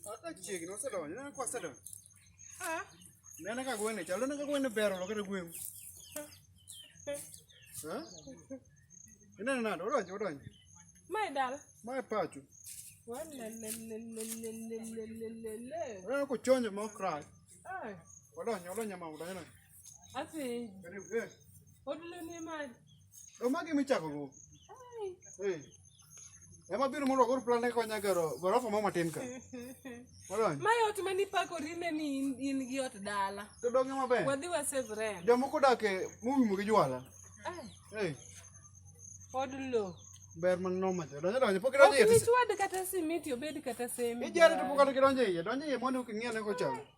Hata chiegni osedonjo, ineno ka osedonjo. Nene ka gwene chalo, nene ka gwene ber olo kata gweng'. Eh? Ineno nade, odonjo, odonjo. Mae dala. Mae pacho. Walelelelelelelelele. Ineno kochonjo ma okrach. Ai. Odonjo, odonjo ma odonjo. Apenji. Karibu. Eh. Odilo ni mali. Ndo magi michako go. Ai. Eh. Ema biro mondo kor plan ko nya gero gorofa mama tin ka. Molony. Mai ot mani pako rine ni in, in gi ot dala. To donge maber. Wadhi wa save rent. Jomoko dak e mumu gi jwala. Ai. Eh. Odilo. Ber man no macho. Donge donge pok donge. Ok ni chwad kata simiti obed kata semi. Ijare to pok kata donge. Donge mondo king'iane ko chal.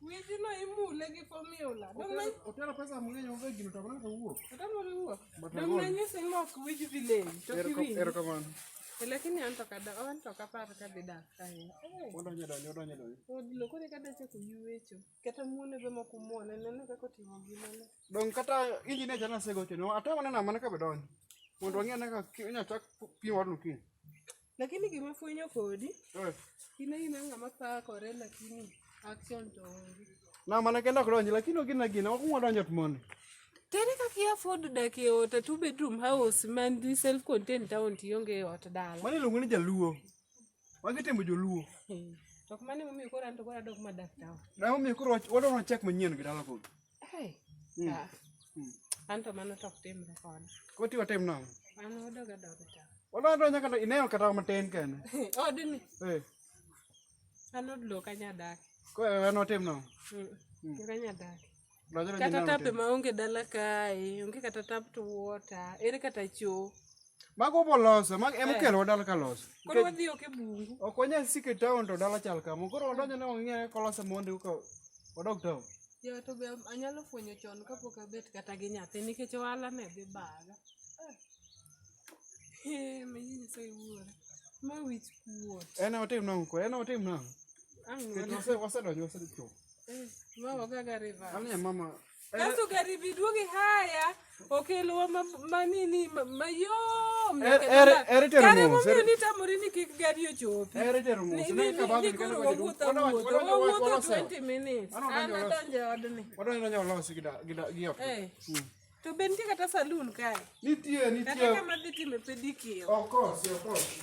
Mijino imule gi formula. Otero pesa mang'eny onge gino to mana kawuok. Otero riwuok. Dong nanyisi ni ok wich village to kiwinj. Erokamano. Lakini an to kada an to kapar ka dhi dak kae. Odonjo donjo odonjo donjo. Odlo kore kada chako yuecho. Kata muone be moko muone nene kaka otimo gimane. Dong kata inji ne jana segocho no atama nena mana ka bedonjo. Mondo wang'e naka inyachak pimo odno kiny. Lakini gima fwenyo kodi, eh. in aina ng'ama pakore lakini action to onge. Na mana kenda ok donji lakini ogina gina ok ngwa donjo tmoni. Tere kaka ia afford dak e ot a two bedroom house man di self contained town to ionge e ot dala. Mani iluongo ni jaluo. Wagi timo joluo. Hmm. To mani momiyo koro an to koro adok madak town. Na momiyo koro wadwa check manyien gi dala koro. Hey, Mm. ah, Mm. an to mano to ok timre koda. Koti watim nang'o? An odoga doga ta. Wala to nyaka to ineo kata matin kende. Odni, Eh, an od lok anyadak. ko en watim nang'o? Mm. Lok anyadak. Lojo lojo Kata ineo tape matin. ma onge dala kae, onge kata tap to water, ere kata choo. Mago boloso, mag em eh. kelo dala ka loso. Koro wadhi oke bungu. Ok wanyal sike town to dala chal kama. Koro wadonjo ne wang'e kolose mondi ka wadog town. Jo to be anyalo fwenyo chon kapok abet kata gi nyathi nikech ohala ne dhi baga. Eh, manyini sai wuora. Ma wich kuot. En otim nang' ko, en otim nang'. Ang' wase wase donjo wase cho. Eh, ma waga ga river. Ani mama Kaso gari bi duogi haya okelowa manini mayom kare momiyo nitamori ni kik gari ochopi ni koro wawuotho awuotho wawuotho 20 minutes an adonjo e odni to be nitie kata salun kae nitie nitie kata kama dhi time pedikio okosi okosi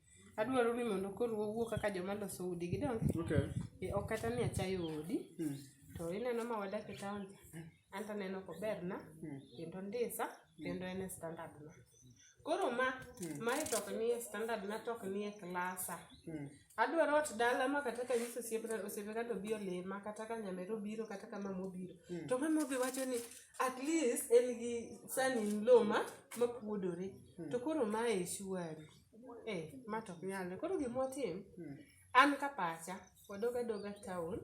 adwaro ni mondo koro wawuo kaka joma loso udi gidonge okay. e, ok kata ni achayo odi hmm. to ineno ma wadak e taon an to aneno koberna hmm. kendo ndisa hmm. kendo en e standard na koro ma hmm. mae tok ni e standard na tok ni e klasa hmm. adwaro ot dala ma kata ka nyiso osiepe kata obi olima kata ka nyamere obiro kata ka mama obiro hmm. to mama obi wacho ni at least en gi sanin loma mapuodore hmm. to koro mae shuari Eh, ma to ok nyalre. Koro gima watim, an ka pacha, wadog adoga town,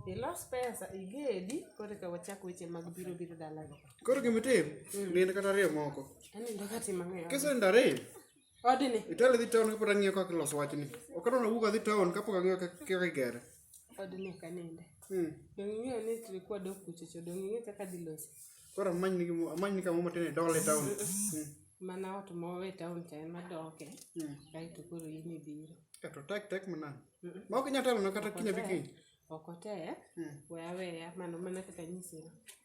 ilos pesa, igedi, koro eka wachak weche mag biro biro dalago. Koro gima itim, nind kata ariyo moko. Anindo ka tim ang'o e ot? Kisenindo ariyo, Odni, itelo idhi town kapod ang'iyo kaka iloso wachni. Ok adwa ni awuog adhi town kapok ang'iyo kaka kaka igere. odni ok aninde. Hmm. Donge ing'eyo ni trikwa dok kuchocho, donge ing'eyo kaka dhi loso? Koro amany ni amany ni kama matene dole town. Hmm. Mana ot mowe town cha ema doke. Hmm. Dai to koro in ibiro. Eto tek tek mana. Hmm. Ma ok nyatelo na kata kinya biki. Ok otek. We awe ya mano mana kaka nyisi.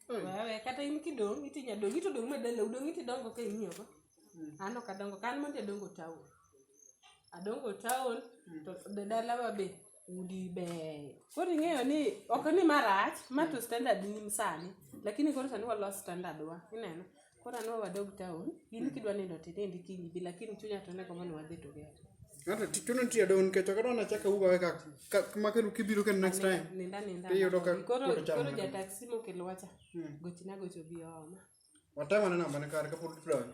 We awe kata in kidong itinya dong ito dong madala udong iti dongo ka imiyo ko. Ano kadongo kan monte dongo town. Adongo town to dalawa be. Udi beyo. Koro ing'eyo ni ok ni marach, ma to standard ni sani. Lakini koro sani walos standard wa. Ineno? Koro anwa wadog town, in kidwa nindo to inind kiny ibi, lakini chunya to ne gombo ni wadhi together. Hata ti- chuno tiyo don nikech ok adwar achaka uga ka ka kama kendo kibiro kendo next time. Ninda ninda. Iyudo ka Koro pod chamo koro mana. jataksi mokelowa cha. Gochina gocho bi ooma. Watemo ne namba ne kar kapod tudore.